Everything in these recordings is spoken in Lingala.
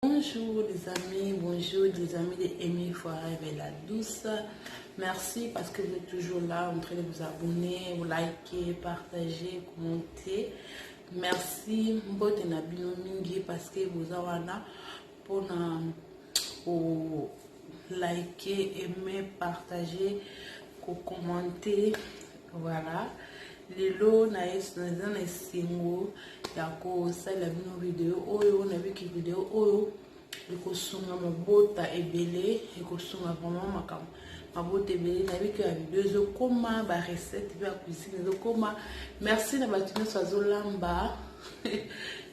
Bonjour les amis, bonjour les amis de Amy Forever et la douce. Merci parce que vous êtes toujours là en train de vous abonner, vous liker, partager, commenter. Merci mbote na bino mingi parce que boza wana pona o like aime partager ko commenter voilà lelo naza na esengo ya kosalela bino video oyo nabiki video oyo ekosunga mabota ebele ekosunga vraiment makambo mabota ebele nabiki ya video ezokoma barecette mpe ya cuisine ezokoma merci na bato nyonso azolamba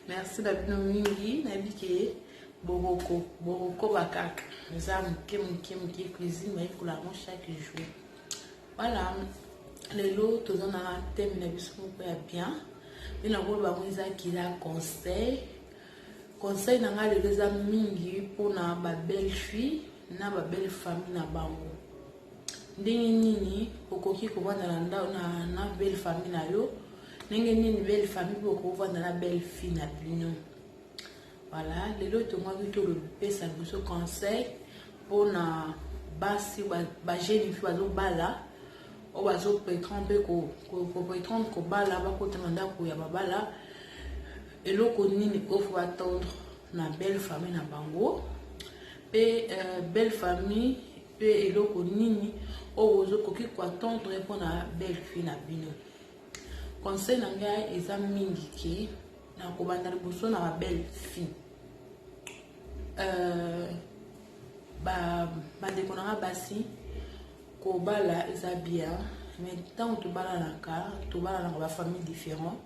merci na bino mingi nayebi ke bokoko bokokoba kaka eza moke moke moke cuisine nayekola yango chaque jour voilà lelo toza na teme na biso moko ya bien mpe nakoloba yango eza kila conseil conseil na ngai lelo eza mingi mpona babelle fille na babelle famille na bango Ndenge nini okoki kovanda na ndako na, na belle famille na yo? Ndenge nini belle famille mpe okoki kovanda na belle fille na bino? Voilà, lelo tongaki tolopesa biso conseil mpo na basi bajeune fille bazobala oyo bazopretendre mpe kopretendre kobala bakota na ndako ya babala eloko nini oyo fo batendre na belle famille na bango mpe euh, belle famille Pe eloko nini oyo ozo koki ko attendre pona belle fille na bino? Conseil na ngai eza mingi ke na kobanda liboso na ba belle fille. Euh, ba bandeko na ngai basi kobala eza bien mais ntango tobalanaka tobalanaka ba famille différent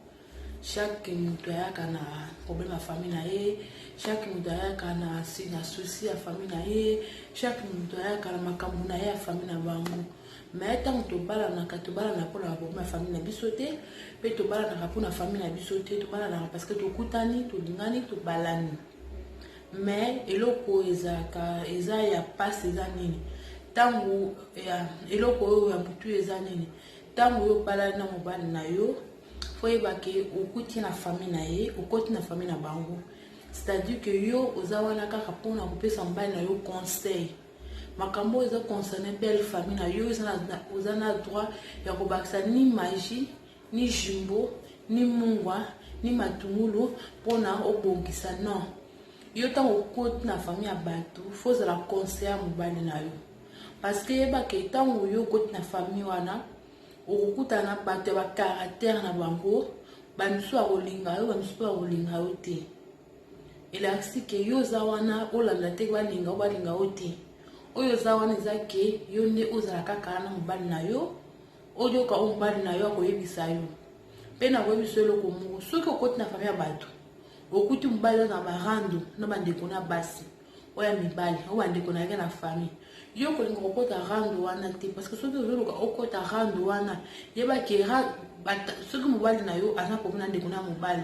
Chaque mutu ayaka na problème ya famille na ye, chaque mutu ayaka na si na souci ya famille na ye, chaque mutu ayaka na makambo na ye ya famille na bango. Mais ntango tobalanaka, tobalanaka mpo na baproblème ya famille na biso te, mpe tobalanaka mpo na famille na biso te, tobalanaka parce que tokutani, tolingani, tobalani. Mais eloko oyo ezalaka eza ya mpasi eza nini? Ntango ya eloko oyo ya butu eza nini? Ntango oyo obalani na mobali na yo faut yeba ke okuti na famille na ye okoti na famille na bango c'est-à-dire que yo oza wana kaka mpona kopesa mobali na yo conseil makambo oyo eza concerne belle famille na yo oza na droit ya kobakisa ni magie ni jumbo ni mungwa ni matungulu mpona obongisa non yo ntango okoti na famille ya bato fo ozala conseil ya mobali na yo parce que yebake ntango yo okoti na famille wana okokutana na bato ya bacaractère na bango bamisusu akolinga yo bamisusu mpe akolinga yo te elakisi ke yo oza wana olanda te balinga yo balinga yo te oyo oza wana eza ke yo nde ozala kaka na mobali na yo oyoka oyo mobali na yo akoyebisa yo mpe nakoyebisa yo eloko moko soki okoti na fami ya bato okuti mobali aza na barando na bandeko na basi oya mibali oyo bandeko na yake na famille yo kolinga kokota rando wana te parce que soki ozoluka okota rando wana yeba ke soki mobali na yo aza komi na ndeko na mobali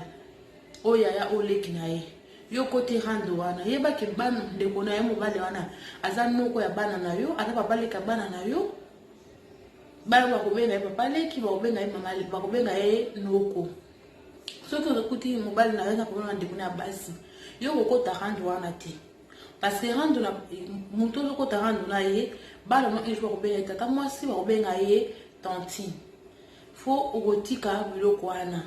oyo yaya oyo leki na ye yo okoti rando wana yeba ke bana ndeko na ye mobali wana aza noko ya bana na yo aza papa leki ya bana na yo bana bakobenga ye papa leki bakobenga ye mama bakobenga ye noko soki okuti mobali na yo na problème na ndeko na ya basi yo kokota rando wana te parce que rando na moto ozokota rando na ye bana no ejo bakobenga ye tata mwasi bakobenga ye tantine fo okotika biloko wana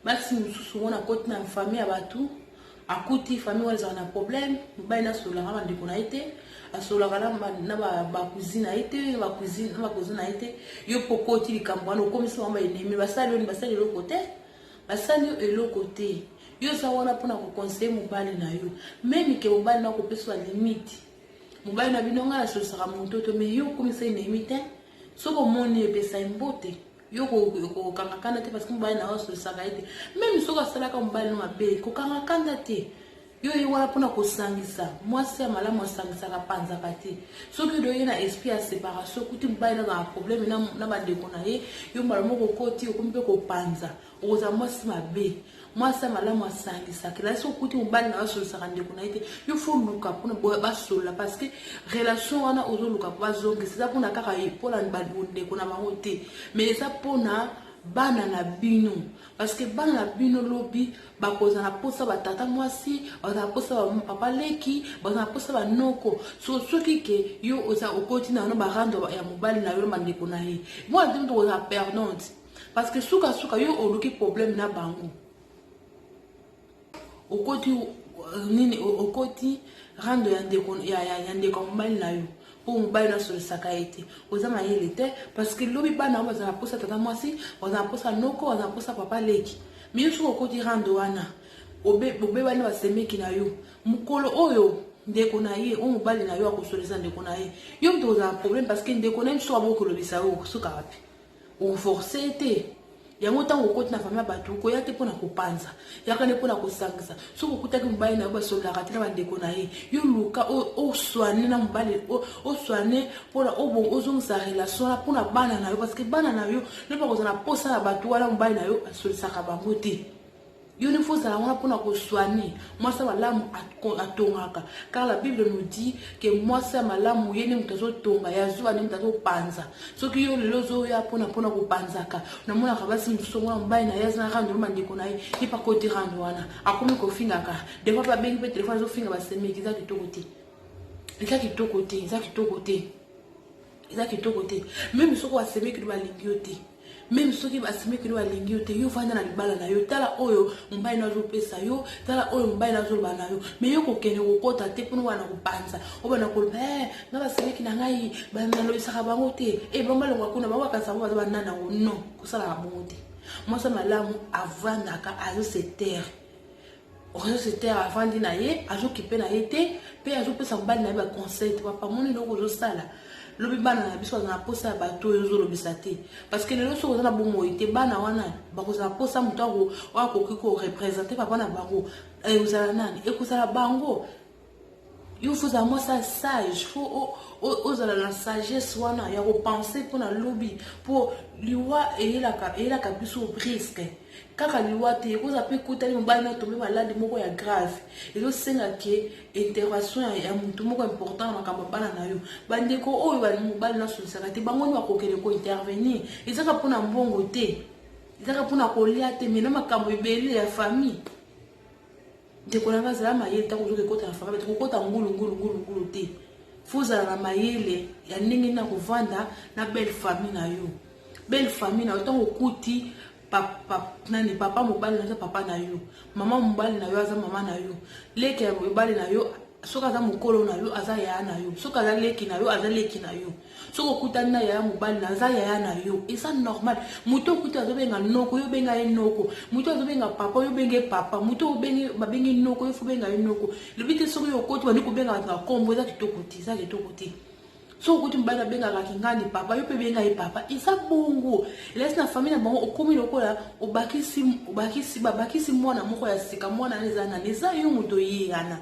basi mosusu mona koti na famille ya bato akuti famille wana ezalaka na problème mobali na asololaka na bandeko na ye te asololaka na bakuzi na ye te na bakuzi na ye te yo mpo okoti likambo wana okomisi bango baenemi basali oni basali eloko te basali yo eloko te yo oza wana mpona kokonseye mobali na yo meme ke mobali na kopesa limite mobali na bino ngai nasolisaka moto to me yo okomisa enemi te soki omoni epesa ye mbote yo kokanga kanda te parce que mobali na yo asolisaka ye te meme soki asalaka mobali no mabe kokanga kanda te yo ye wana mpona kosangisa mwasi ya malamu asangisaka panzaka te soki odo ye na esprit ya séparation kuti mobali nazala problème na bandeko na ye yo mbala moko okoti okomi mpe kopanza okozala mwasi mabe mwasi ya malamu asangisaka elai soki okuti mobali na basolisaka ndeko na ye te yo fo luka mpona basolola parce que relation wana ozoluka mpo bazongisa eza mpona kaka mpona bandeko na bango te mais eza mpona bana na bino parce que bana na bino lobi bakozala mposa batata mwasi bazala mposa papa leki bazala mposa banoko so soki ke yo oza okoti na yano barando ya mobali na yo na bandeko na ye mwana te moto okozala perdante Parce que suka suka yo oluki problème na bango. Okoti euh, nini okoti rando ya ndeko ya ya, ya ndeko mobali na yo. mpo mobali nasolisaka ye te oza mayele te parce que lobi bana yango bazala mposa tata mwasi bazala mposa noko bazala mposa papa leki miyo soki okoti rando wana obebani basemeki na yo mokolo oyo ndeko na ye oyo mobali na yo akosolisa ndeko na ye yo moto ozala problème parce que ndeko na ye mosusu abokolobisa yo suka wapi oforce ye te yango ntango okoti na fami ya bato okoya te mpo na kopanza yaka nde mpo na kosangisa soki okutaki mobali na yo basololaka te na bandeko na ye yo luka oswane na mobali oswane mpona ozongisa relation wana mpona bana na yo parceke bana na yo nde bakozala na mposa na bato wana mobali na yo asolisaka bango te yo nde fozala wana mpona koswane mwasi ya malamu atongaka car la bible nous dit ke mwasi ya malamu ye nde moto azotonga ya zuwa nde moto azopanza soki yo lelo ozoya mpona mpona kopanzaka namonaka basi mosusu yango na mobali na ye aza na rando na bandeko na ye ye mpe akoti rando wana akomi kofingaka defois mpe abengi mpe telefone azofinga basemeki eza kitoko te eza kitoko te eza kitoko te eza kitoko te meme soki basemeki no balingi yo te meme soki basemeki no balingi yo te yo vanda na libala na yo tala oyo mobali no azopesa yo tala oyo mobali no azoloba na yo me yo kokende kokota te mpona obana kopanza obana koloba e eh, nga basemeki na ngai nalobisaka bango te e eh, bango balongwa kuna bango bakanisa bango baza banana yango non kosalaka bongo te mwasi malamu avandaka azo se terre réseau se taire avandi na ye azokipe na ye te mpe azopesa mobali na ye baconseil te papa moni eloko ozosala lobi bana na biso baza na mposa ya bato oyo ozolobisa te parce que lelo soki oza na bomoi te bana wana bakozala mposa moto oyo akoki korepresente papa na bango ekozala nani ekozala bango yo fozala mwasi ya sage fo ozala na sagesse wana ya kopense mpo na lobi mpo liwa eyelaka eyelaka biso briske kaka liwa te ekozala mpe ekutani mobali na tombe maladi moko ya grave ezosenga ke intervention ya motu moko important na makambo ya bana na yo bandeko oyo mobali nasolisaka te bango nde bakokende kointervenir ezaka mpo na mbongo te ezaka mpo na kolia te me na makambo ebele ya famille Ndeko na nga zala mayele ntango ozoki ekota na famille bato kokota ngulu ngulu ngulu ngulu te fo zala na mayele ya ndenge na kovanda na belle famille na yo belle famille na yo ntango okuti nani papa mobali na yo aza papa na yo mama mobali na yo aza mama na yo leke ya mobali na yo soki aza mokolo na yo aza yaya na yo soki aza leki na yo aza leki na yo soki okutani na yaya mobali na aza yaya na yo eza normal moto okuti azobenga noko yo benga ye noko moto azobenga papa yo benge papa moto obengi babengi noko yo fo benga ye noko lobi te soki yo okoti bandi kobenga bato na kombo eza kitoko te eza kitoko te soki okuti mobali abengaka kingandi papa yo mpe benga ye papa eza bongo elasi na famille na bango okomi lokola obakisi obakisi babakisi mwana moko ya sika mwana na eza nani eza yo moto oyeyana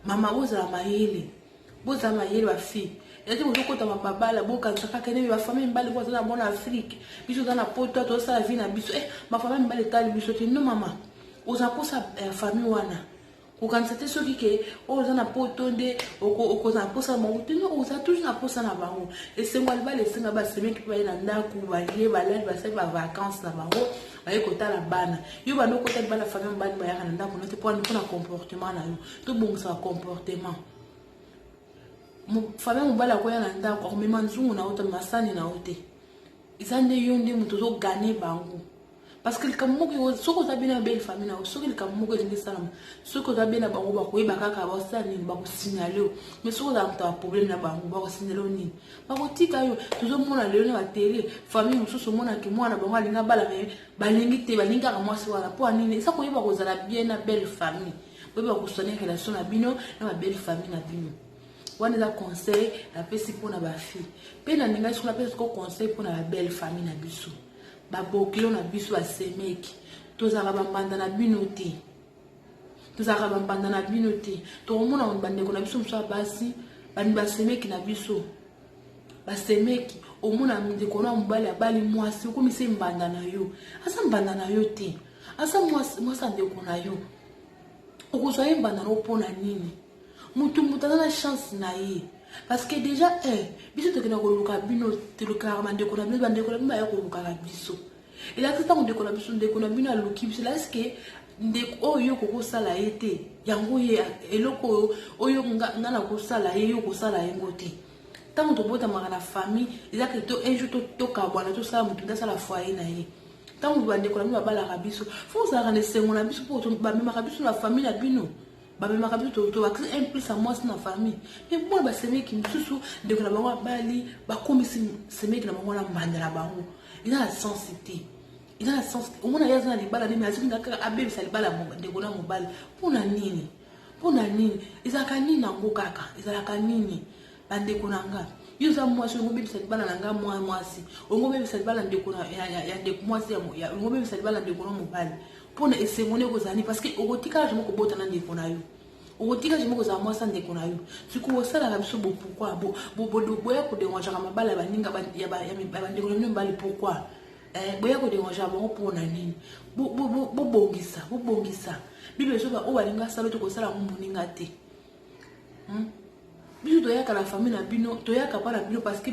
mama ozala mayele boza mayele ba fille ete bozokota mababala bokanisaka kene me bafamille mibale mpo azala mona afrike biso oza na poto tozosala vi na biso e bafamille mibale etali biso te no mama oza mposa ya famille wana kokanisa te soki ke oyo oza na poto nde okozala mposa na bango te no oza toujours na mposa na bango esengo ya libala esenga basemeki mpe baye na ndako balie balali basali bavacance na bango baye kotala bana yo banda okota libala famille mibale bayaka na ndako na te mpo na comportement na yo tobongisa bacomportement fami mobali akoya na ndako akomema nzungu na yo te masani na yo te eza nde yo nde moto ozogane bango parce que likambo moko soki oza bena belle famille na yo soki likambo moko elingi esalama soki oza bena bango bakoyeba kaka basala nini bakosignale yo mais soki oza moto ya problème na bango bakosignale yo nini bakotika yo tozomona lelo na batele famille mosusu omonaki mwana bango alingi abala me balingi te balingi kaka mwasi wana mpo ya nini eza koyeba kozala bien na belle famille boyeba kosoigner relation na bino na ba belle famille na bino wana eza conseil napesi mpo na bafille mpe nalingaki soki napesa soko conseil mpo na ba belle famille na biso babokilo na biso basemeki tozalaka bambanda na bino te tozalaka bambanda na bino te tokomona bandeko na biso mosusu ya basi bani basemeki na biso basemeki omona ndeko na mobali abali mwasi okomi se mbanda na yo aza mbanda na yo te aza mwasi ya ndeko na yo okozwa ye mbanda na yo mpo na nini motu motu aza na chance na ye parce que déjà eh, biso tokenda koluka bino tolukaka bandeko na bino bandeko na bino baya kolukaka biso elakisi ntango ndeko na biso ndeko na bino aluki biso elakisi ke ndeko oyo yo okoki kosala ye te yango ye eloko oyo oyo nga nakosala ye yo okosala yango te ntango tobotamaka na famille eza ke to un jour tokabwana tosala moto nde asala foye na ye ntango bandeko na bino babalaka biso fo ozalaka na esengo na biso mpo bamemaka biso na famille na bino bamemaka biso tobakisa un plus ya mwasi na famille me mwana basemeki mosusu ndeko na bango abali bakomisi semeki na bango na mbanda na bango eza na sense te eza na sense te omona ye aza na libala nini azoki na kaka abebisa libala ndeko na mobali mpo na nini mpo na nini ezalaka nini yango kaka ezalaka nini bandeko na nga yo oza mwasi olingo bebisa libala na nga mwa mwasi olingo bebisa libala ndeko ya ndeko mwasi olingo bebisa libala ndeko na mobali mpo na esengo nde ekozala nini parce que okotikala jamai kobota na ndeko na yo okotika jamai kozala mwasi ya ndeko na yo sikoyo osalaka biso bopourkoi boya koderangeaka mabala ya baninga ya bandeko na bino mibali pourkoi eh, boya koderangeaka bango mpo na nini bobongisa bobongisa bible ezoba oyo alinga asala te kosala yango moninga te Hmm? biso toyaka na famille na bino toyaka mpa na bino parce que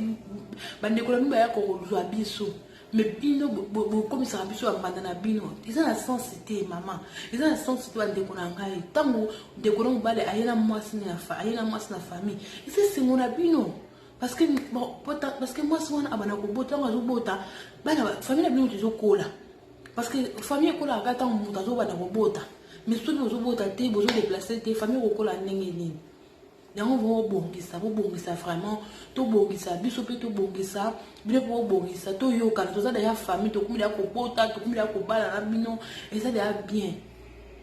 bandeko na bino bayaka kozwa biso me bino bokomisaka biso ya mbanda na bino eza na sense te mama eza na sense te bandeko na ngai ntango ndeko na mobali aye na mwasi aye na mwasi na famille eza esengo na bino parce que mwasi wana abanda kobota ntango azobota bana famille na bino moto ezokola Parce que famille ekolaka kaka ntango moto azobanda kobota mais soki bozobota te bozodeplace te famille ekokola ndenge nini yango bobongisa bobongisa vraiment tobongisa biso mpe tobongisa bino mpe bobongisa toyokana toza deya famille tokomi deya kobota tokomi deya kobala na bino eza deya bien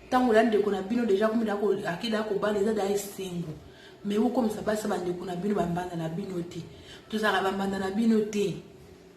ntango ya ndeko na bino deja akomi deya ake deya kobala eza deya esengo mais bokomisa basi bandeko na bino bambanda na bino te tozalaka bambanda na bino te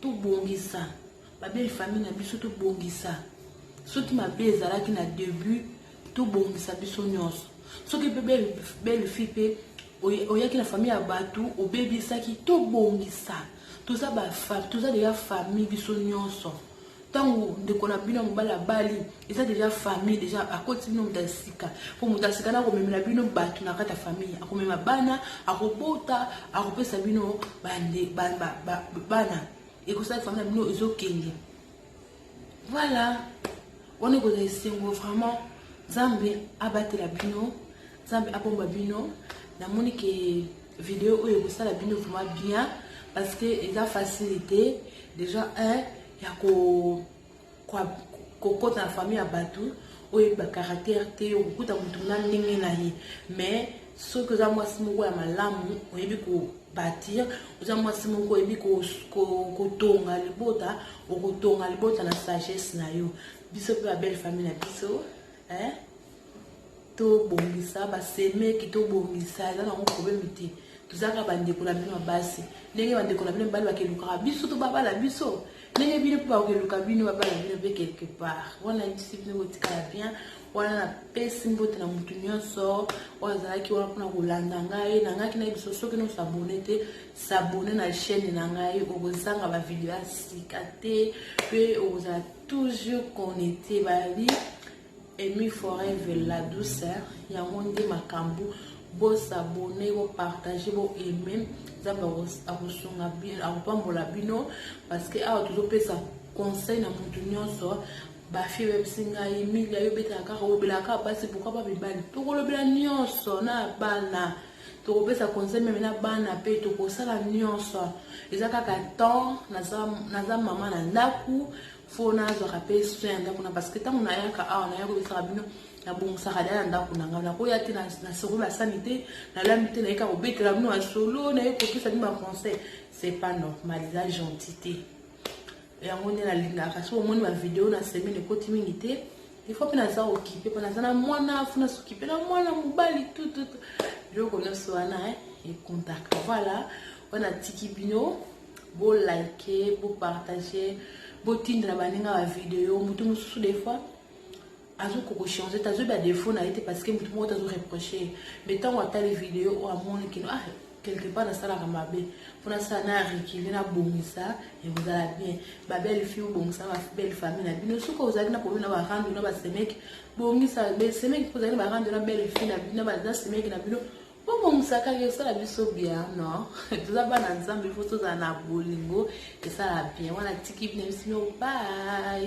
Tobongisa ba belle famille na biso tobongisa soki mabe ezalaki na debut tobongisa biso nyonso soki mpe belle, belle fille mpe oyaki na famille ya bato obebisaki tobongisa toza ba toza deya famille biso nyonso ntango ndeko na bino ya mobali abali eza deja famille deja akoti bino moto ya sika mpo moto ya sika na akomemela bino bato na kati ya famille akomema bana akobota akopesa bino bande bana ekosala famille na bino ezokende voilà wana ekozala esengo vraiment nzambe abatela bino nzambe abomba bino namoni ke Video oyo ekosala bino vraiment bien parce que eza facilité déjà un ya ko kokota na famille ya bato oyo ba caractère te okokuta motu na ndenge na ye mais soki oza mwasi moko ya malamu oyebi kobatir oza mwasi moko oyebi kotonga libota okotonga libota na sagesse na yo biso mpe babelle famille na biso eh? tobongisa basemeki tobongisa eza nango probleme te tozalaka bandeko na bino ya basi ndenge bandeko na bino mibali bakelukaka biso to babala biso ndenge bino mpe bakeluka bino babala bino mpe quelque part wana yebisi bino kotikala bien wana napesi mbote na motu nyonso oyo azalaki wana mpona kolanda ngai nangaki na biso soki no sabone te sabone na chaîne na ngai okozanga bavideo ya sika te mpe okozala toujours connecte babi Amy forever la douceur yango nde makambo bo s'abonner bo partager bo aimer nzambe akosunga bino akopambola bino parce que awa tozopesa conseil na motu nyonso bafie bebisi ngai emilia yo obetaka kaka olobelaka kaka basi pourkui ba mibali tokolobela nyonso na bana tokopesa conseil meme na bana mpe tokosala nyonso eza kaka temps naza mama na ndako fo nazwaka mpe soin ya ndako na parce que ntango nayaka awa naya kobisaka bino nabongisaka da na ndako na ngai nakoya te nasoko basani te nalami te nayeka kobetela bino masolo naye kopesa bino baconseil c'est pas normal eza gentil te yango nde nalingaka soki omoni bavideo na semaine ekoti mingi te ifo mpe naza okipe mpo naza na mwana fo nasokipe na mwana mobali tututu biloko nyonso wana econtaka voilà wana atiki bino bo like bo partager botindela baninga ba video moto mosusu des fois azokoka kochange te azoyeba defaut na ye te parce que moto moko te azo reproche me ntango atali video oyo amoni kino ah quelque part nasalaka mabe mpo nasala na rekile nabongisa ekozala bien babelle fille obongisa babelle famille na bino soki ozali na problème na barando na basemeki bongisa semeki mpo ozali na barando na belle fille na semeki na bino Bongo musakaki osala biso bien non toza bana nzambe ifo tozala na bolingo esala bien wana tiki bino bisino bye